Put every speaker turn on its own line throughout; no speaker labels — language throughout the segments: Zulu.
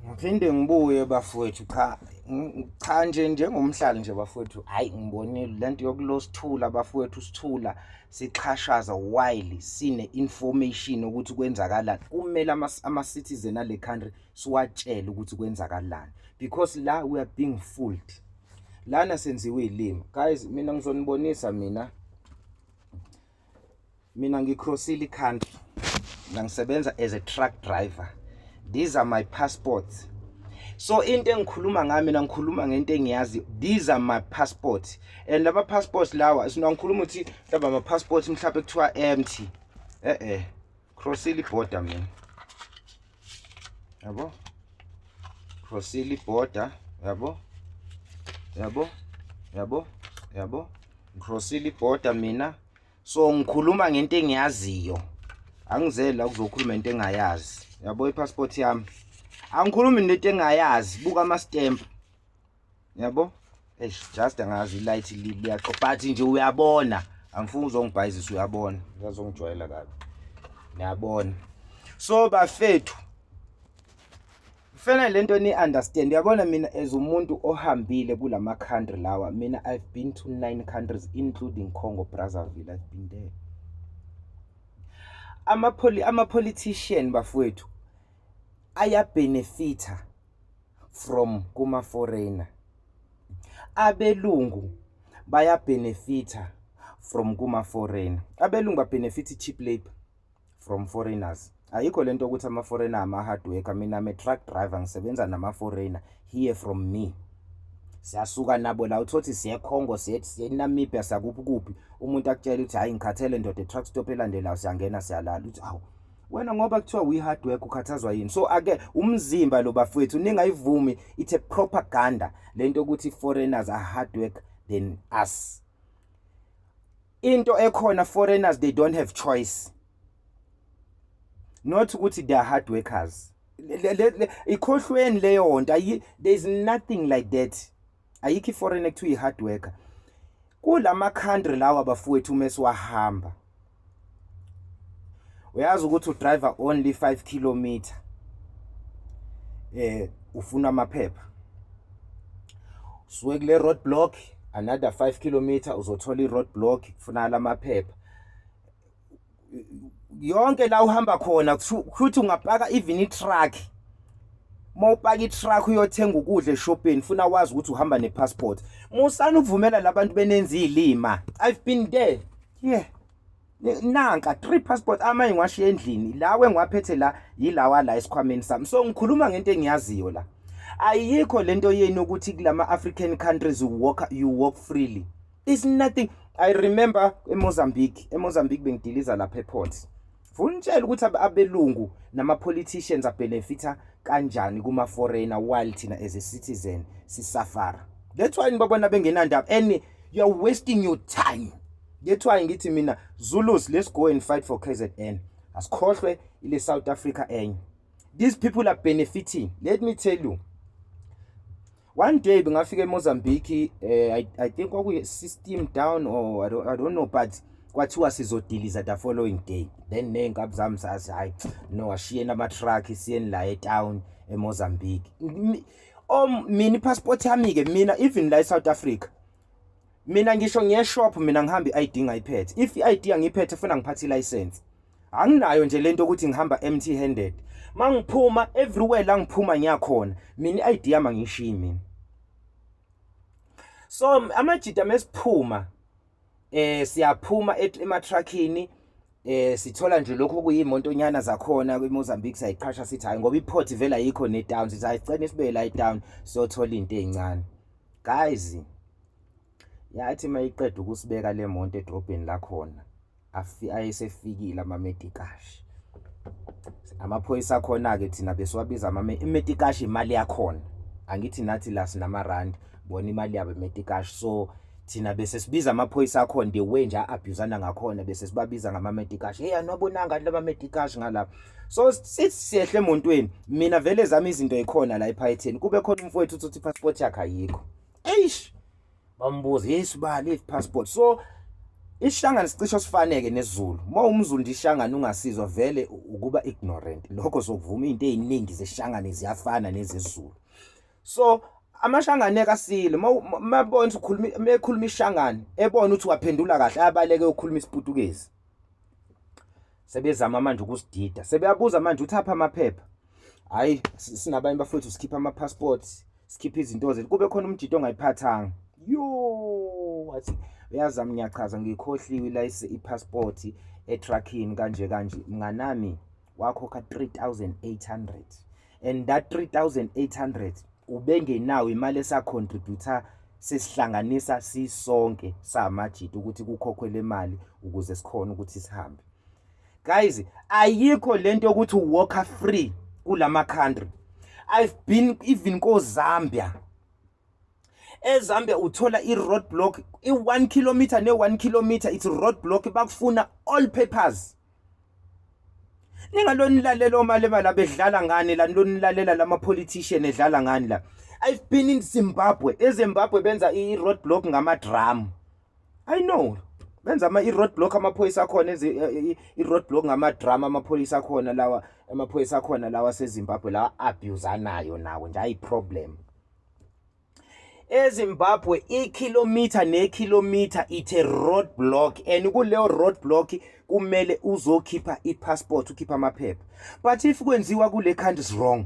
ngiphinde ngibuye bafowethu cha cha nje njengomhlali nje bafowethu hayi ngibonile lento yokulosithula bafowethu sithula sixhashaza while sine information ukuthi kwenzakalani kumele ama citizen ale country siwatshele ukuthi kwenzakalani because la we are being fooled lana senziwe ilimi guys mina ngizonibonisa mina mina ngicrossile icountry mina ngisebenza as a truck driver these are my passports so into engikhuluma ngayo mina ngikhuluma ngento engiyazi these are my passports and laba passports lawa sina ngikhuluma ukuthi laba ama passports mhlawumbe kuthiwa empty eh eh crossile iborder mina yabo crossile iborder yabo yabo yabo yabo ngicrossile ibhoda mina so ngikhuluma ngento engiyaziyo angizeli la kuzokhuluma into engayazi yabo ipassport yami angikhulumi nento engayazi buka ama stamp yabo eish just angazi ilight liyaxo but nje uyabona angifuni uzongibhayizisa uyabona ngazongijwayela kabi niyabona so bafethu kufanele lento ni understand uyabona mina as umuntu ohambile kulama country lawa mina i've been to nine countries including Congo Brazzaville i've been there ama ama politician bafowethu aya benefita from kuma foreigner abelungu baya benefita from kuma foreigner abelungu ba benefit cheap labor from foreigners ayikho lento ukuthi ama foreigner ama hard worker mina ame truck driver ngisebenza nama foreigner here from me siyasuka nabo la uthothi siye Congo siye siye Namibia sakuphi kuphi umuntu akutshela ukuthi hayi ngikhathele ndoda e truck stop elandelayo siyangena siyalala uthi awu wena ngoba kuthiwa we hard work ukhathazwa yini so ake umzimba lo bafowethu ningayivumi it's a propaganda lento ukuthi foreigners are hard work than us into ekhona foreigners they don't have choice not ukuthi they are hard workers ikhohlweni leyo nto there is nothing like that ayikho iforeign ekuthiwa i-hard worker kulama country lawa bafowethu uma siwahamba uyazi ukuthi udriver only 5 kilometer eh ufuna amaphepha suke kule road block another 5 kilometer uzothola i road block kufunakala amaphepha yonke la uhamba khona kuthi ungapaka even i-truck uma upaka i-truck uyothenga ukudla eshopeni funa wazi ukuthi uhamba ne-passport musani ukuvumela labantu benenza iy'lima i've been there yeah nanka three passport amanye ngiwashiya endlini lawo engiwaphethe la yilawa la esikhwameni sami so ngikhuluma ngento engiyaziyo la ayikho lento yenu ukuthi kulama African countries you walk you walk freely is nothing i remember emozambique emozambique bengidiliza lapha eport funitshela ukuthi abelungu nama-politicians abhenefitha kanjani kuma-foreigner while thina as a citizen sisafara that's why nibabona bengenandaba and you're wasting your time that's why ngithi mina zulus let's go and fight for kzn asikhohlwe ile south africa enye these people are benefiting let me tell you one day bengafika emozambique eh, I, i think kwakuyi-system down or I don't, i don't know but kwathiwa sizodiliza the following day then ney'nkabi zami sazi hhayi no ashiyeni ama-truck siyeni la etown emozambique o mina i-passport yami-ke mina even la e-south africa mina ngisho ngiyeshop mina ngihamba i-id ngayiphethe if i-id angiyiphethe funa ngiphathe i-license anginayo nje lento ukuthi ngihamba empty handed mangiphuma everywhere la ngiphuma ngiyakhona mina i-ID yami angishiyi mina so amajita mesiphuma eh siyaphuma ematruckini eh sithola nje lokho kuyimontonyana zakhona kwiMozambique sayiqhasha sithi hayi ngoba iPort vela yikho neDown sithi ayicene sibe la iDown siyothola into ezincane guys yathi mayiqeda ukusibeka le monto edrobheni lakhona ayisefikile amamedikashi amaphoyisa akhona-ke thina besiwabiza amamedikashi imali yakhona angithi nathi la sinamarandi bona imali yabo emetikashi so thina bese sibiza amaphoyisa akhona the way nje a-abhuzana ngakhona bese sibabiza ngamametikashi heyi anobonanga abantu abametikashi ngalapha so sithi siyehle emontweni mina vele zami izinto yikhona la ephayetheni kube khona umfowethu uthi uthi ipasipoti yakhe ayikho eish bambuza yesu ba late passport so isishangane sicisho sifaneke nezulu uma umzulu nje ishangane ungasizwa vele ukuba ignorant lokho sokuvuma izinto eziningi zeshangane ziyafana nezezulu so amashangane kasile mabona ukhuluma mekhuluma ishangane ebona ukuthi waphendula kahle abaleke ukhuluma isiputukezi sebezama manje ukusidida sebeyabuza manje uthapha amaphepha hayi sinabanye bafowethu sikhipha ama passports sikhiphe izinto zethu kube khona umjito ongayiphathanga yo wathi uyazami ngiyachaza ngikhohliwe ilayise i-passport etruckini kanje kanje mnganami wakhokha 3800 and that 3800 ubengenawo imali esacontributor sesihlanganisa sisonke samajita ukuthi kukhokhwe le mali ukuze sikhona ukuthi sihambe guys ayikho lento ukuthi walker free kulama country i've been even ko Zambia eZambia uthola i road block i 1 km ne 1 km it's road block bakufuna all papers ningalonilalela omalema la bedlala ngani la nilonilalela lama politician edlala ngani la i've been in Zimbabwe eZimbabwe benza i road block ngama drum i know benza ama i-road block amaphoyisa akhona enze i-road block ngamadrama amaphoyisa akhona lawa amaphoyisa akhona lawa sezimbabwe lawa abusanayo nawo nje ayi-problem ezimbabwe ikhilomitha nekhilomitha ithe road block and kuleyo road block kumele uzokhipha i-passport ukhipha amaphepha but if kwenziwa kule country is wrong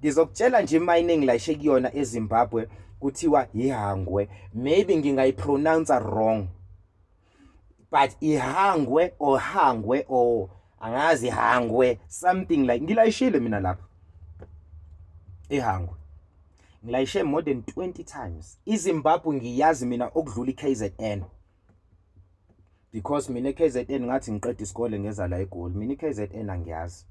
ngizokutshela nje imining layishe kuyona eZimbabwe kuthiwa ihangwe maybe ngingayipronounce wrong but ihangwe or hangwe or angazi hangwe something like ngilayishile mina lapha ehangwe ngilayishe more than 20 times izimbabwe ngiyazi mina okudlula i-kzn because mina KZN ngathi ngiqeda isikole ngeza la eGoli mina KZN angiyazi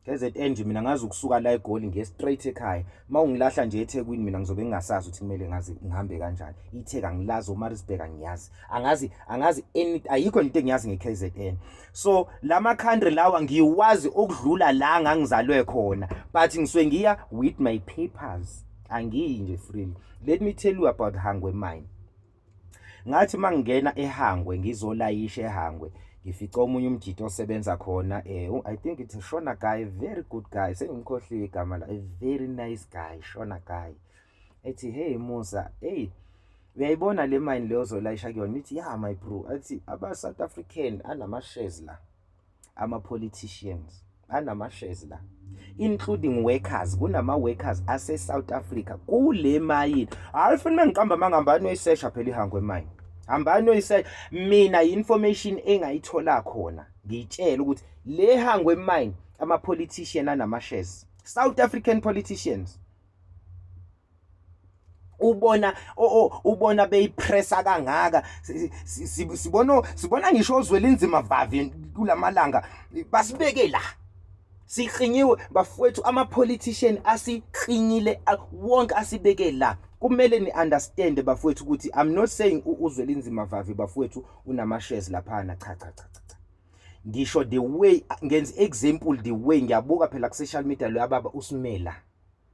KZN nje mina ngazi ukusuka la eGoli ngiye straight ekhaya mawungilahla nje eThekwini mina ngizobe ngingasazi ukuthi kumele ngazi ngihambe kanjani itheka ngilazi uMarisburg angiyazi angazi angazi any ayikho into engiyazi ngeKZN so lama country lawa ngiwazi ukudlula la ngangizalwe khona but ngisuke ngiya with my papers angiyi nje freely let me tell you about Hangwe mine ngathi mangingena ehangwe ngizolayisha ehangwe ngifica omunye umjito osebenza khona eh i think it's a shona guy very good guy sengimkhohliwe igama la a very nice guy shona guy ethi hey musa hey uyayibona le mine leyo zolayisha kuyona ithi ya my bro athi aba south african anama shares la ama politicians anama shares la including workers kunama workers ase South Africa kule mayini hayi funa mangiqamba mangambani oyisesha phela ihangwe mayini hambani oyisesha mina information engayithola khona ngitshela ukuthi le hangwe mayini ama politician anama shares South African politicians ubona ubona beyipressa kangaka sibona sibona ngisho ozwela inzima vavi kulamalanga basibeke la siqinyiwe bafowethu ama politician asiqinile wonke asibeke la kumele ni understand bafowethu ukuthi i'm not saying uzwela inzima vavi bafowethu unama shares lapha na cha cha cha ngisho the way ngenza example the way ngiyabuka phela ku social media lo yababa usimela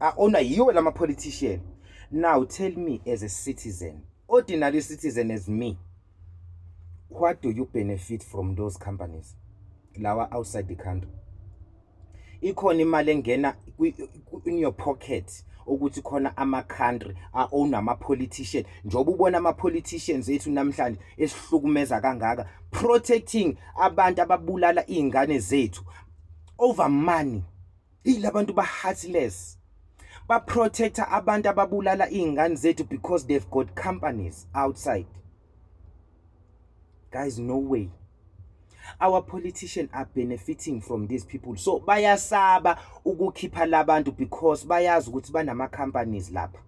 aona yiwo lama politician now tell me as a citizen ordinary citizen as me what do you benefit from those companies lawa outside the country ikhona imali engena in your pocket ukuthi khona ama country a own ama politician njoba ubona ama politicians ethu namhlanje esihlukumeza kangaka protecting abantu ababulala izingane zethu over money ilabantu ba heartless ba protector abantu ababulala izingane zethu because they've got companies outside guys no way our politician are benefiting from these people so bayasaba ukukhipha labantu because bayazi ukuthi banama companies lapha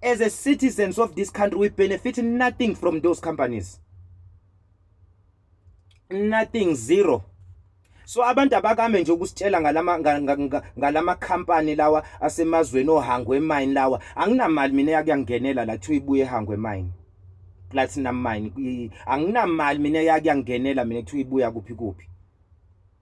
as a citizens of this country we benefit nothing from those companies nothing zero so abantu abakame nje ukusitshela ngalama ngalama company lawa asemazweni ohangwe mine lawa anginamali mina yakuyangenela la kuthiwa ibuye ehangwe mine platinum mine anginamali mina yakuyangenela mina kuthiwa ibuya kuphi kuphi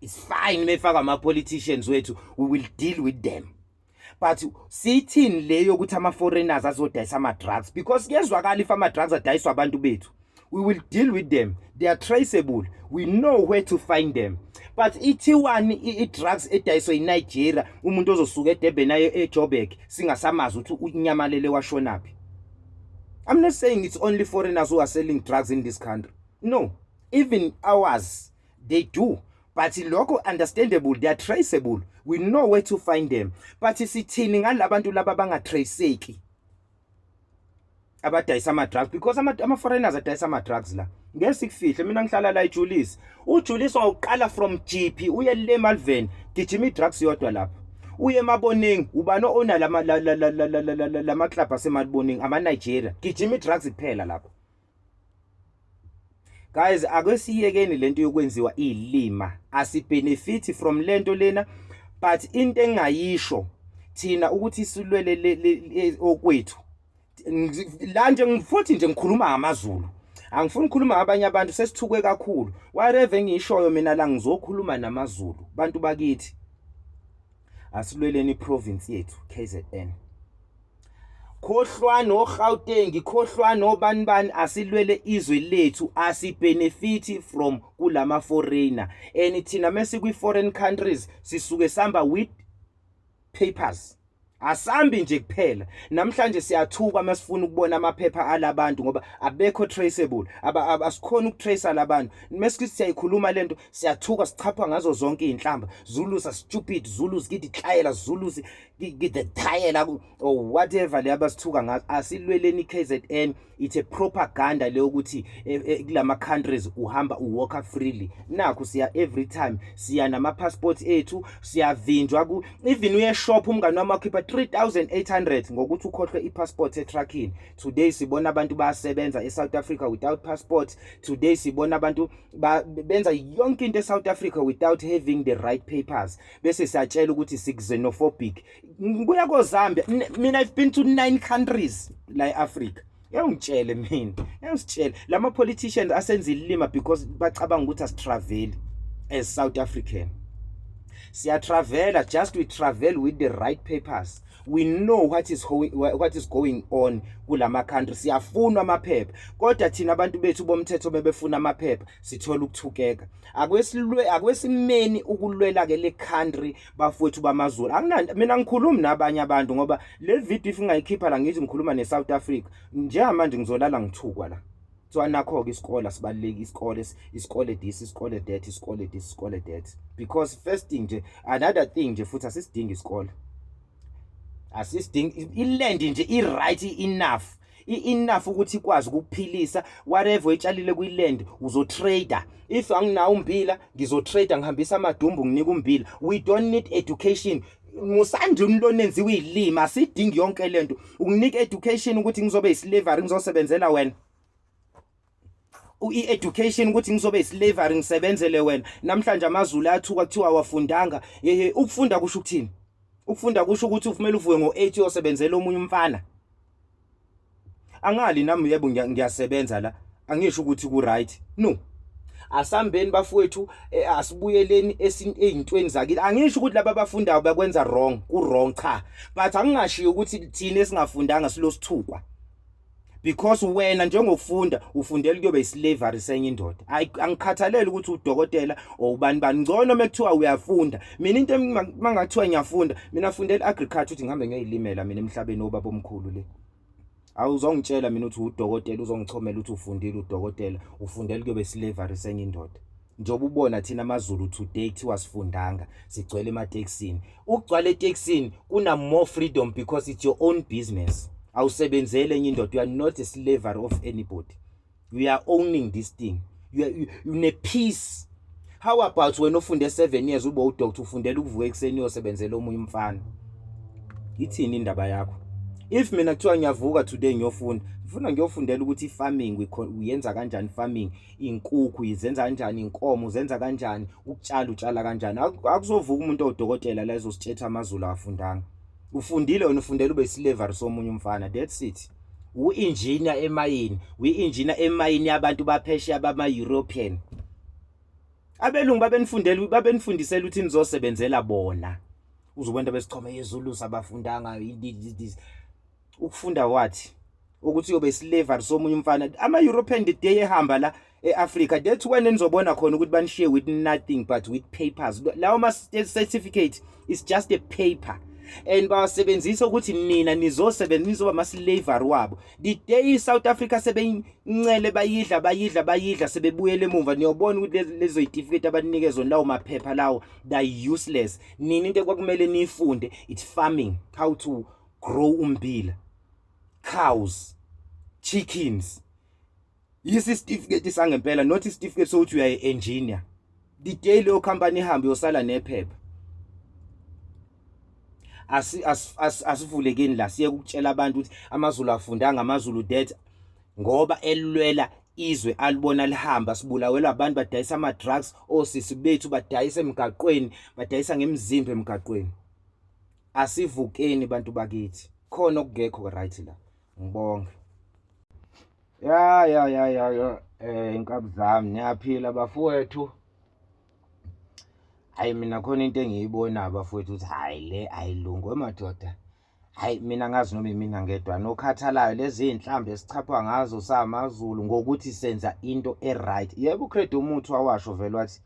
it's fine mefaka ama politicians wethu we will deal with them but sithini leyo ukuthi ama foreigners azodayisa ama drugs because kuyezwakala if ama drugs adayiswa abantu bethu we will deal with them they are traceable we know where to find them but ithiwani i-drugs edayiswe yinigeria umuntu ozosuka edurban aye ejobek singasamazi ukuthi unyamalele washonaphi i'm not saying it's only foreigners who are selling drugs in this country no even ours they do but lokho understandable they are traceable we know where to find them but sithini ngalabantu laba bangatraceki abadayisa ama-drugs because ama-foreigners adayisa ama-drugs la ngeke sikufihle mina ngihlala la ijulisi ujulisi wawuqala from gp uye le malveni gijima i-drugs yodwa lapho uye emaboningi ubani o-ona lama-club asemaliboningi ama-nigeria gijima i-drugs kuphela lapho guys ake siyekeni lento yokwenziwa ilima asibenefit from lento lena but into engayisho thina ukuthi silwele okwethu la nje ngifuthi nje ngikhuluma ngamaZulu angifuni ukukhuluma ngabanye abantu sesithuke kakhulu whatever engishoyo mina la ngizokhuluma namaZulu bantu bakithi asilweleni iprovince yethu KZN khohlwani oGauteng khohlwani obani bani asilwele izwe lethu asibenefit from kulama foreigner and thina mase kwi foreign countries sisuke samba with papers asambi nje kuphela namhlanje siyathuka masifuna ukubona amaphepha alabantu ngoba abekho traceable abasikhona ukutracer labantu mesithi siyayikhuluma lento siyathuka sichapha ngazo zonke izinhlamba zulu sa stupid zulu zikidi klayela zulu the tayela or oh, whatever le abasithuka ngazo asilweleni KZN it's a propaganda le ukuthi eh, eh, kulama countries uhamba uwalk freely nakho siya every time siya nama passports ethu siyavinjwa ku even uye shop umngane wami wakhipha 3800 ngokuthi ukhohlwe i passport e trucking today sibona abantu bayasebenza e South Africa without passport today sibona abantu benza yonke into e South Africa without having the right papers bese siyatshela ukuthi sixenophobic ngibuya kozambia mina i've been to nine countries la e-africa yawungitshele mina yawusitshele lama politicians asenza ilima because bacabanga ukuthi asitravel as south african siyatravela just we travel with the right papers we know what is going, what is going on kulama country siyafunwa amaphepha kodwa thina abantu bethu bomthetho bebefuna amaphepha sithola ukuthukeka akwesilwe akwesimeni ukulwela ke le country bafowethu bamazulu akunanto mina ngikhulumi nabanye abantu ngoba le video if ngingayikhipha la ngithi ngikhuluma ne South Africa njengamanje ngizolala ngithukwa la so anakho ke isikole sibaluleki isikole isikole this isikole that isikole this isikole that because first thing nje another thing nje futhi asisidingi isikole asisidingi iland nje i right enough i-enough ukuthi ikwazi ukukuphilisa whatever oyitshalile kwiland uzotrader if anginawo umbila ngizotrader ngihambisa amadumbu nginika umbila we don't need education musanje umloni enziwe ilima sidingi yonke lento unginika education ukuthi ngizobe islavery ngizosebenzela wena i-education ukuthi ngizobe islavery ngisebenzele wena namhlanje amazulu ayathuka kuthiwa awafundanga hehe ukufunda kusho ukuthini ukufunda kusho ukuthi ufumele uvuke ngo-8 uyosebenzela omunye umfana angali nami yebo ngiyasebenza la angisho ukuthi ku-right no asambeni bafowethu e, asibuyeleni ezintweni zakini angisho ukuthi laba abafundayo bakwenza wrong ku-wrong cha but angingashiyo ukuthi thina esingafundanga silosithukwa because wena njengokufunda ufundela ukuyoba islavery senye indoda angikhathalele ukuthi udokotela or ubani bani ngcono mekuthiwa uyafunda mina into mangathiwa ngiyafunda mina fundela agriculture ukuthi ngihambe ngiyoyilimela mina emhlabeni obaba omkhulu le awuzongitshela mina ukuthi udokotela uzongichomela ukuthi ufundile udokotela ufundela ukuyoba islavery senye indoda njengoba ubona thina amazulu today kuthiwa sifundanga sigcwele ematekisini ukugcwala etekisini kuna more freedom because it's your own business awusebenzele enye indoda you are not a slavery of anybody you are owning this thing you are, you, you ne peace how about wena ofunde 7 years ube udoctor ufundela ukuvuka ekuseni uyosebenzela omunye umfana ithini indaba yakho if mina kuthiwa ngiyavuka today ngiyofunda ngifuna ngiyofundela ukuthi i-farming uyenza kanjani farming inkukhu izenza kanjani inkomo uzenza kanjani ukutshala utshala kanjani akuzovuka umuntu odokotela la ezositshetha amazulu afundanga ufundile wena ufundela ube slavery somunye umfana that's it uinjina emayini uinjina emayini yabantu baphesheya bama European abelungu babenifundela babenifundisela ukuthi nizosebenzela bona uzobona besichome yezulu sabafundanga ukufunda wathi ukuthi uyobe slavery somunye umfana ama European the day ehamba la eAfrica that's when nizobona khona ukuthi banishiye with nothing but with papers lawo ma certificate is just a paper and bawasebenzisa ukuthi nina nizosebenza nizoba ama-slavery wabo the day i-south africa sebeyincele bayidla bayidla bayidla sebebuyele emuva niyobona ukuthi lezo yitifiketi abanikezwa lawo maphepha lawo they useless nini into ekwakumele niyifunde it's farming how to grow ummbila cows chickens yisi certificate sangempela not certificate sokuthi uyaye engineer the day leyo company ihambe yosala nephepha asi asivulekeni la siye ukutshela abantu ukuthi amazulu afundanga amazulu that ngoba elwela izwe alibona lihamba sibulawelwa abantu badayisa ama drugs osisi bethu badayisa emgaqweni badayisa ngemizimba emgaqweni asivukeni bantu bakithi khona okungekho right la ngibonge ya ya ya ya ya eh inkabi zami niyaphila bafowethu hayi mina khona into engiyibona bafowethu ukuthi hayi le ayilungu madoda hayi mina ngazi noma imina ngedwa nokhathalayo lezi inhlambe esichapha ngazo samazulu ngokuthi senza into e right yebo ucredo umuthi wawasho vele wathi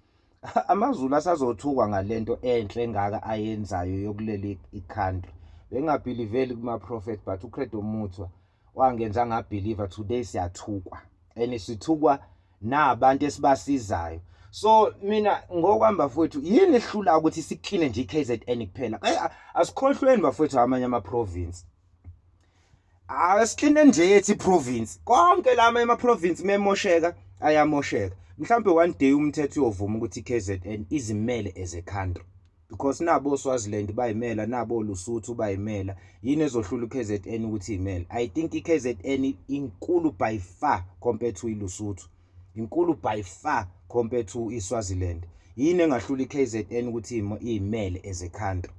AmaZulu asazothukwa ngalento enhle engaka ayenzayo yokuleli icountry. Bengabhiliveli kuma prophet but uCredo Muthwa wangenza ngabhiliva today siyathukwa. And sithukwa nabantu esibasizayo. So mina ngokwamba futhi yini ehlula ukuthi sikline nje iKZN kuphela. Asikhohlweni bafethu amanye ama province. Awesicline nje ethi province. Konke lama ema province memosheka ayamosheka. Mhlambe one day umthetho uyovuma ukuthi KZN izimele as a country. Because nabo Swaziland bayimela nabo Lusuthu bayimela. Yini ezohlula uKZN ukuthi imele? I think iKZN inkulu by far compared to iLusuthu. Inkulu by far compared to iSwaziland. Yini engahlula iKZN ukuthi imele as a country?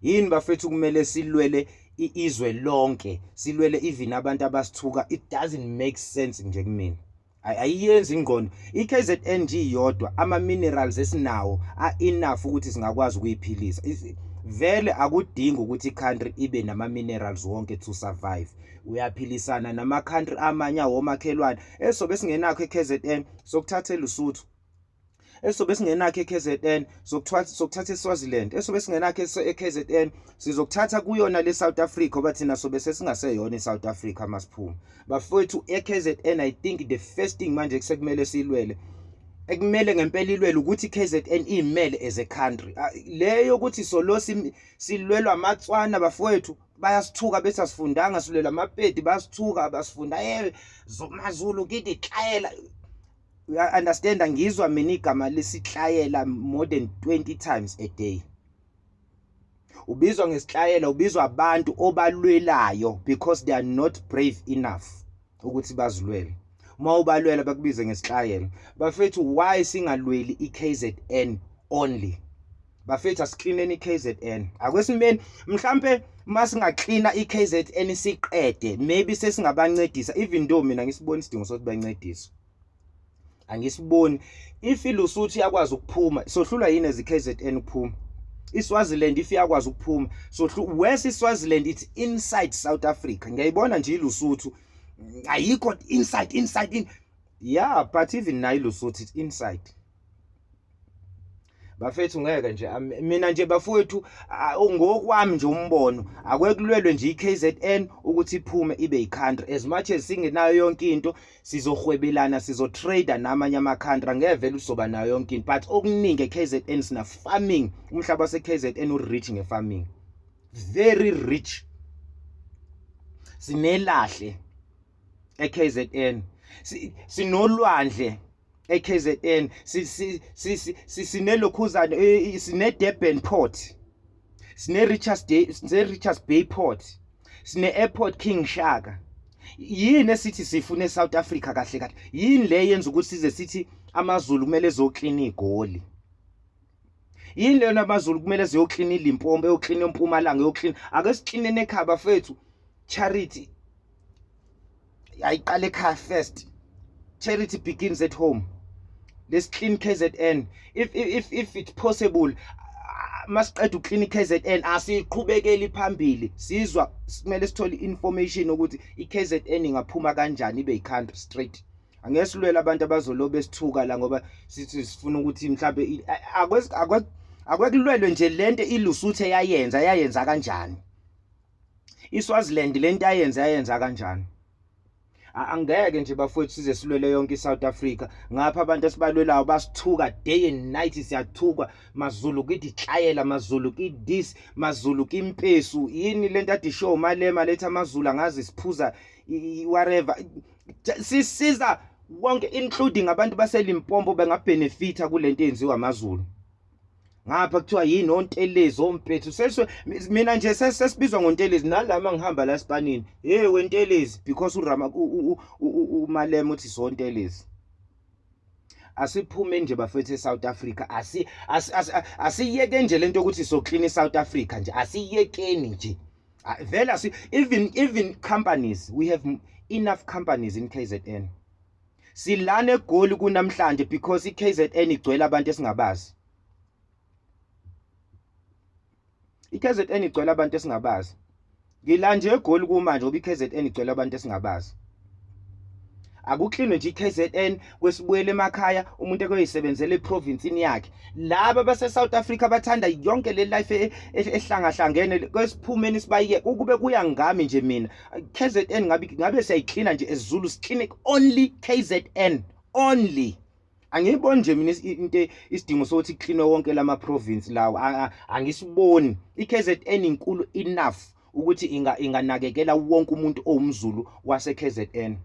yini bafethu kumele silwele izwe lonke silwele even abantu abasithuka it doesn't make sense nje kumina ayiyenzi ingqondo i-KZN nje iyodwa ama minerals esinawo a enough ukuthi singakwazi ukuyiphilisa vele akudingi ukuthi i-country ibe nama-minerals wonke to survive uyaphilisana nama-country amanye awomakhelwane esobe singenakho e-kzn sokuthathela usuthu esobe singenakho eKZN sokuthatha sokuthatha eSwaziland esobe singenakho eKZN sizokuthatha kuyona le South Africa oba thina sobe sesingaseyona eSouth Africa masiphume bafowethu eKZN i think the first thing manje kusekumele silwele ekumele ngempela ilwele ukuthi KZN imele as a country ah, leyo ukuthi solo silwelwa amatswana bafowethu bayasithuka bethi asifundanga silwela amapedi basithuka basifunda eh zomazulu kithi tlayela uya understand ngizwa mina igama lesihlayela more than 20 times a day ubizwa ngesihlayela ubizwa abantu obalwelayo because they are not brave enough ukuthi bazilwele uma ubalwela bakubize ngesihlayela bafethu why singalweli iKZN only bafethu asiklineni i-kzn akwesimeni mhlampe uma singaklina i-kzn siqede maybe sesingabancedisa even though mina ngisibona isidingo sokuthi bancediswe angisiboni ifilusuthi yakwazi ukuphuma sohlulwa yini ezi-kzn ukuphuma iswaziland if yakwazi ukuphuma so west iswaziland it's inside south africa ngiyayibona nje ilusuthu ayikho inside inside in yeah but even nayo ilusuthu it's inside bafethu ngeke nje mina nje bafowethu ngokwami nje umbono akwekulwelwe nje iKZN ukuthi iphume ibe icountry as much as singenayo yonke into sizohwebelana sizotrader namanye amacountry angevele uzoba nayo yonke into but okuningi eKZN sina farming umhlaba waseKZN urich ngefarming very rich sinelahle eKZN sinolwandle eKZN sinelokhuzane sine-Durban port sine-Richards Bay sine-Richards Bay port sine-airport King Shaka yini esithi sifune South Africa kahle kahle yini le yenza ukuthi size sithi amaZulu kumele ezoklina igoli yini leyona amazulu kumele ziyoklina ilimpompo eyoklina empumalanga eyoklina ake siklinene ekhaya bafethu charity ayiqale ekhaya first charity begins at home let's clean KZN if if if it's possible masiqeda uclinic KZN asiqhubekeli phambili sizwa simele sithole information ukuthi iKZN ingaphuma kanjani ibe icountry straight angesilwela abantu abazolobe sithuka la ngoba sithi sifuna ukuthi mhlambe akwekulwelwe nje lento ilusuthe yayenza yayenza kanjani iSwaziland lento ayenze ayenza kanjani angeke nje bafowethu size silwele yonke iSouth Africa ngapha abantu esibalwelayo basithuka day and night siyathukwa mazulu kithi hlayela mazulu kithi this mazulu kimpesu yini lento athi show malema letha amazulu angazi siphuza whatever sisiza wonke including abantu baselimpompo bengabenefita kulento yenziwa amazulu ngapha kuthiwa yini ontelezi ompethu seswe mina nje sesibizwa ngontelezi nalama ngihamba la sipanini hey wentelezi because urama umalema uthi sontelezi asiphume nje bafethu eSouth Africa asi asiyeke nje lento ukuthi so clean iSouth Africa nje asiyekeni nje vela si even even companies we have enough companies in KZN silana egoli kunamhlanje because iKZN igcwele abantu esingabazi iKZN igcwele abantu esingabazi ngilanje egoli kumanje ngoba iKZN igcwele abantu esingabazi akuklinwe nje iKZN kwesibuyele emakhaya umuntu ekoyisebenzela eprovince yakhe laba base South Africa bathanda yonke le life e, e, ehlangahlangene kwesiphumeni sibayike ukube kuya ngami nje mina KZN ngabe ngabe siyayiklina nje ezulu clinic only KZN only angiyiboni nje mina into isidingo sokuthi iklinwe wonke lama province lawo angisiboni iKZN inkulu enough ukuthi inga inganakekela wonke umuntu owumzulu wase KZN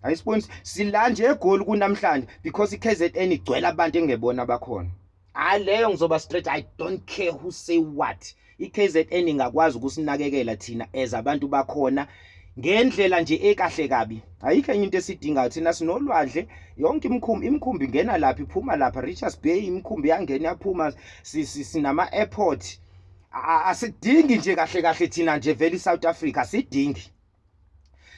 ayisiboni sila nje egoli kunamhlanje because iKZN igcwele abantu engebona bakhona hayi leyo ngizoba straight i don't care who say what i-kzn ingakwazi ukusinakekela thina as abantu bakhona ngendlela nje ekahle kabi ayikho enye into esidingayo thina sinolwandle yonke imikhumbi imikhumbi ingena lapha iphuma lapha richards bay imikhumbi yangena yaphuma sinama-airport asidingi nje kahle kahle thina nje vele i-south africa sidingi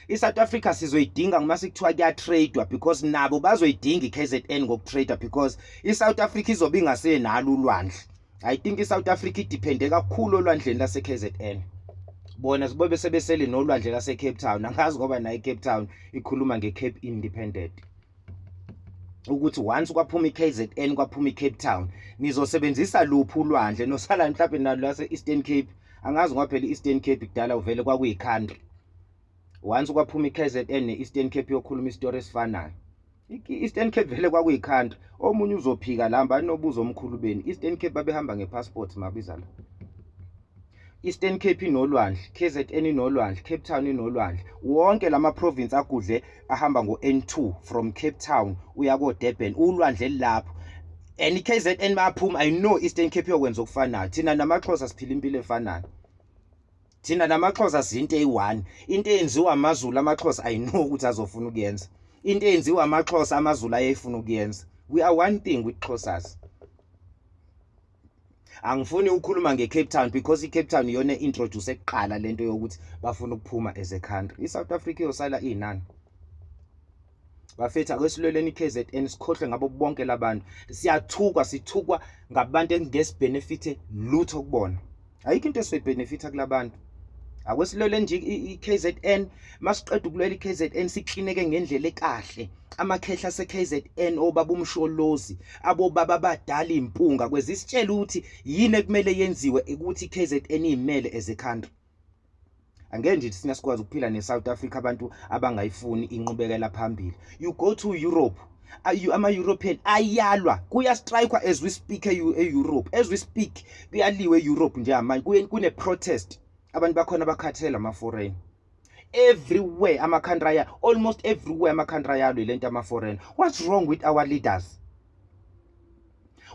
i-south africa sizoyidinga uma sekuthiwa kuyatradewa because nabo bazoyidinga i-kzn ngokutrader because i-south africa izobe ingasenalo ulwandle i think i-south africa idiphende kakhulu olwandleni lase-kzn bona sibobe sebesele nolwandle lase-cape town angazi ngoba nayo i-cape town ikhuluma nge-cape independent ukuthi once kwaphuma i-kzn kwaphuma i-cape town nizosebenzisa luphi ulwandle nosalani mhlawumbe nalo lase-eastern cape angazi ngoba phela i-eastern cape kudala uvele kwakuyi-country once kwaphuma i-kzn ne-eastern cape yokhuluma isitori esifanayo i-eastern cape vele kwakuyi-country omunye uzophika la mba anobuza omkhulu beni i-eastern cape babehamba nge-passport mabiza la Eastern Cape inolwandle, KZN inolwandle, Cape Town inolwandle. Wonke lama province agudle ahamba ngo N2 from Cape Town uya ko Durban. Ulwandle lapho. and iKZN bayaphuma i know Eastern Cape yokwenza okufanayo thina namaXhosa siphila impilo efanayo thina namaXhosa zinto eyi-one into eyenziwa amaZulu amaXhosa i know ukuthi azofuna ukuyenza into eyenziwa amaXhosa amaZulu ayeyifuna ukuyenza we are one thing with Xhosas angifuni ukukhuluma ngeCape Town because iCape Town iyona introduce ekuqala lento yokuthi bafuna ukuphuma as a country iSouth Africa iyosala inani bafethu akwesilweleni KZN sikhohlwe ngabo bonke labantu siyathukwa sithukwa ngabantu engesibhenefithe lutho kubona ayikho into esizoyibenefitha kulabantu akwesilwele nje i-KZN masiqeda ukulwela i-KZN siklineke ngendlela ekahle amakhehla se-KZN obaba umsholozi abobaba abadala impunga kwezi sitshela ukuthi yini ekumele yenziwe ukuthi i-KZN imele as a country angeke nje sina sikwazi ukuphila ne-South Africa abantu abangayifuni inqubekela phambili you go to Europe ama-european ayalwa kuyastrikwa as we speak e-europe as we speak kuyaliwe e-europe njengamanje kune-protest abantu bakhona bakhathele ama-foreign everywhere ama-country aya almost everywhere ama-country ayalwe le nto ama-foreign what's wrong with our leaders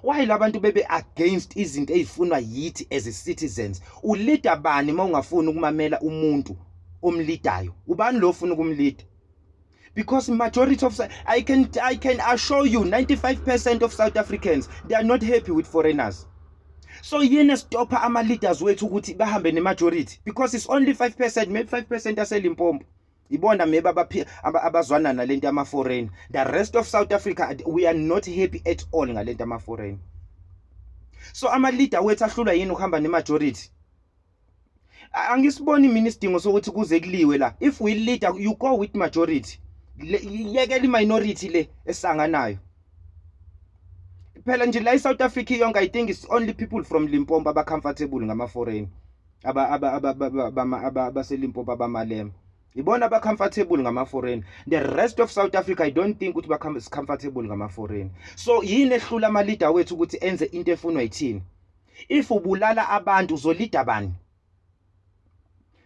why labantu bebe against izinto ezifunwa yithi as citizens ulida bani uma ungafuni ukumamela umuntu omlidayo ubani lo ofuna ukumlida because majority of I can I can assure you 95% of South Africans they are not happy with foreigners so yini esitopha ama leaders wethu ukuthi bahambe ne majority because it's only 5% maybe 5% aselimpompo ibona maybe abazwana nalento ama foreign the rest of South Africa we are not happy at all ngalento ama foreign so ama leader wethu ahlulwa yini ukuhamba ne majority angisiboni mina isidingo sokuthi kuze kuliwe la if we leader you go with majority yekela iminority le esanganayo phela nje la iSouth Africa yonke i think it's only people from Limpopo aba comfortable ngama foreign aba aba aba abaselimpopo abamalema ibona ba comfortable ngama foreign the rest of South Africa i don't think ukuthi ba comfortable ngama foreign so yini ehlula ama leader wethu ukuthi enze into efunwa yithini if ubulala abantu uzolida bani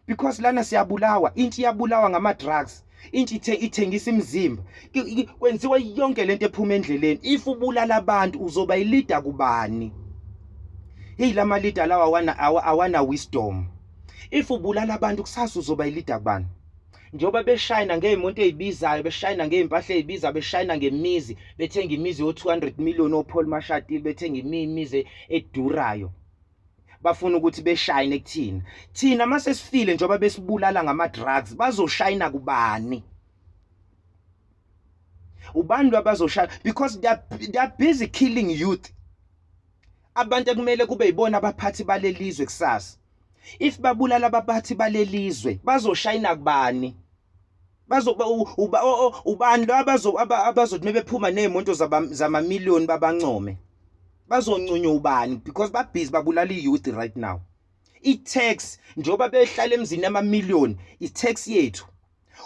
because lana siyabulawa intsha iyabulawa ngama drugs intsha ithe ithengisa imizimba kwenziwa yonke lento ephuma endleleni if ubulala abantu uzoba ilida kubani hey lama leader lawa awana awana wisdom if ubulala abantu kusasa uzoba ilida kubani njengoba beshayina ngey'monto ey'bizayo beshayina ngey'mpahla ey'biza beshayina ngemizi bethenga imizi yo-200 million opholi mashatile bethenga imizi edurayo bafuna ukuthi beshayine kuthina thina uma sesifile njengoba besibulala ngama-drugs bazoshayina kubani ubani lwabazoshaya because they are, they are busy killing youth abantu ekumele kube yibona abaphathi balelizwe kusasa if babulala abaphathi balelizwe bazoshayina kubani bazoba ubani lo abazo abazothi mebephuma nezimonto zama million babancome bazoncunywa ubani because ba busy babulala iyouth right now i tax njoba behlala emzini ama million i tax yethu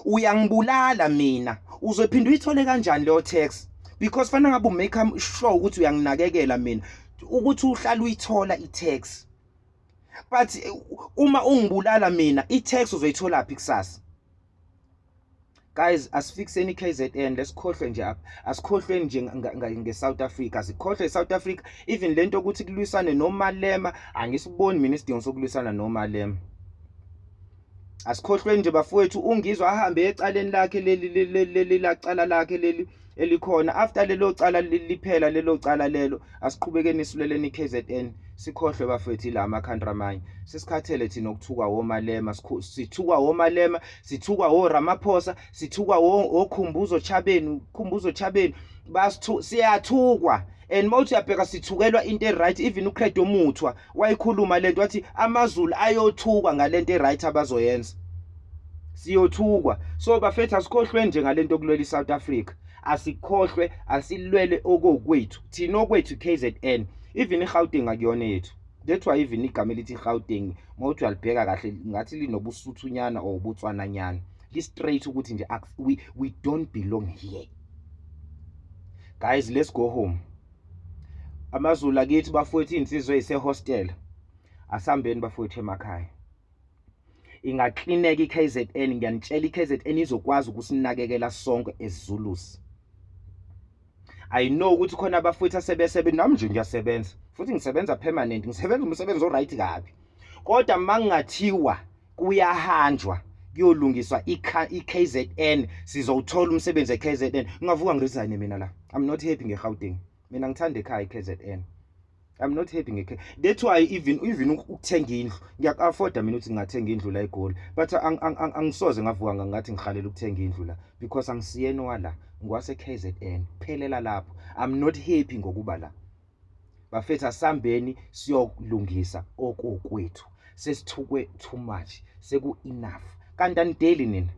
uyangibulala mina uzophinda uyithole kanjani leyo text because fanele ngabe umake sure ukuthi uyanginakekela mina ukuthi uhlala uyithola i-tax but uma ungibulala mina i-tax uzoyithola phi kusasa guys asifikseni i-KZN lesikhohlwe nje apha asikhohlweni nje nge-South Africa sikhohlwe i-South Africa even lento ukuthi kulwisane nomalema angisiboni mina isidingo sokulwisana nomalema asikhohlweni nje bafowethu ungizwa ahambe ecaleni lakhe leli leli lacala lakhe leli elikhona after lelo cala liphela lelo cala lelo asiqhubekeni isuleleni KZN sikhohlwe bafethu la ama country amanye sesikhathele thina ukuthukwa womalema sithukwa womalema sithukwa wo Ramaphosa sithukwa wo okhumbuzo chabeni khumbuzo chabeni basithu siyathukwa and mawuthi uyabheka sithukelwa into e right even uCredo Muthwa wayikhuluma lento wathi amazulu ayothukwa ngalento eright abazoyenza siyothukwa so bafethu asikhohlwe nje ngalento kulwela iSouth Africa asikhohlwe asilwele okokwethu thina okwethu KZN even iGauteng akuyona yethu that's why even igama elithi Gauteng mawuthi uyalibheka kahle ngathi linobusuthunyana or ubutswananyana li straight ukuthi nje we, we don't belong here guys let's go home amazulu akithi bafowethu insizwe isehostel asambeni bafowethu emakhaya ingaklineka iKZN ngiyanitshela iKZN izokwazi ukusinakekela sonke eZulus I know ukuthi khona abafowethu asebesebe nami nje ngiyasebenza futhi ngisebenza permanent ngisebenza umsebenzi oright kabi kodwa mangingathiwa kuyahanjwa kuyolungiswa i-KZN sizowuthola umsebenzi e-KZN ngingavuka ngiresign mina la i'm not happy nge-Gauteng mina ngithanda ekhaya i-KZN I'm not happy ngekhe that's why even even ukuthenga indlu ngiyakuafforda mina ukuthi ngingathenga indlu la eGoli but angisoze ngavuka ngathi ngihalela ukuthenga indlu la because angisiyeni wala ngiwase KZN phelela lapho I'm not happy ngokuba la bafethu asambeni siyolungisa okokwethu sesithukwe too much seku enough kanti anideli nina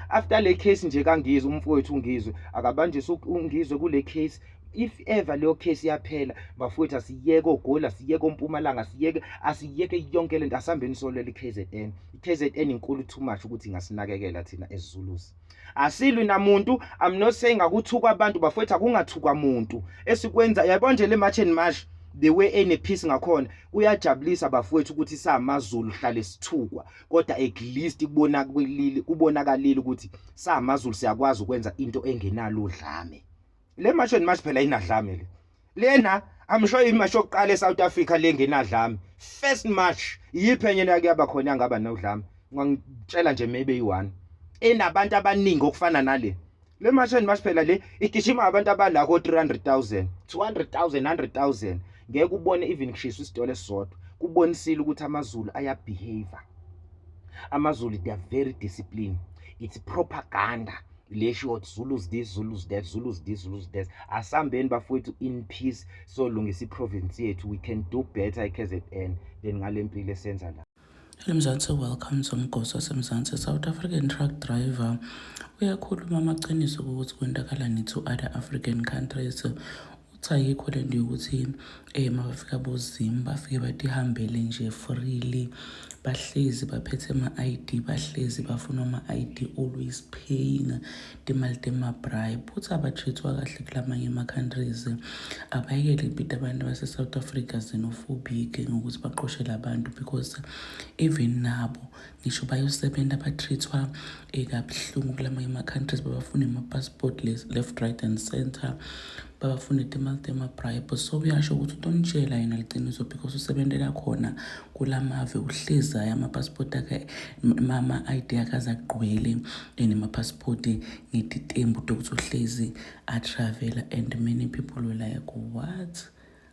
after le case nje kangizwe umfowethu ungizwe akabanjiswe ungizwe kule case if ever leyo case iyaphela bafowethu asiyeke ogoli asiyeke ompumalanga asiyeke asiyeke yonke lento asihambeni solwela i-kzn i-kzn inkulu too much ukuthi ingasinakekela thina ezizulusi asilwi namuntu i'm not saying akuthukwa abantu bafowethu akungathukwa muntu esikwenza yabona nje le march and march the way enephisi ngakhona kuyajabulisa bafowethu ukuthi samazulu hlale sithukwa kodwa at least kubonakalile kubonakalile ukuthi samazulu siyakwazi ukwenza into engenalo dlame le march and march phela inadlame le lena i'm sure imarch yokuqala eSouth Africa lengenadlame first march yiphi enye nake yaba khona yangaba nodlame ngangitshela nje maybe yi1 enabantu abaningi okufana nale le march and march phela le igijima abantu abala ko 300000 200000 100000 ngeke ubone even kushiswa isitolo esisodwa kubonisile ukuthi amazulu ayabehave amazulu they are very disciplined it's propaganda le short zulus this zulus that zulus this zulus that asambeni bafowethu in peace so lungisa iprovince yethu we can do better eKZN than ngale mpilo esenza la eMzansi
welcome somgosi wasemzansi South African truck driver uyakhuluma amaqiniso ukuthi kwentakala nithu other African countries Uthi ayikho le nto yokuthi um eh, mabafika bozimu bafike batihambele nje freely bahlezi baphethe ama-i d bahlezi bafuna ama-i d always paying timali temabribe futhi abatreat-wa kahle kula manye ama-countries abayekele impito abantu base-south africa xenophobic ngokuthi baqoshele abantu because even nabo ngisho bayosebenza ba-treat-wa eh, kabuhlungu kula manye ama-countries babafuna ama-passport left right and center babafuna itimali temabribe so uyasho ukuthi utonitshela yena liqiniso because usebentela khona kula mave uhlezi ayo ama-passport akhe ama-i d akhe aze agqwele eh, nema-passport ngetitembu tokuthi uhlezi atravela and many people were like what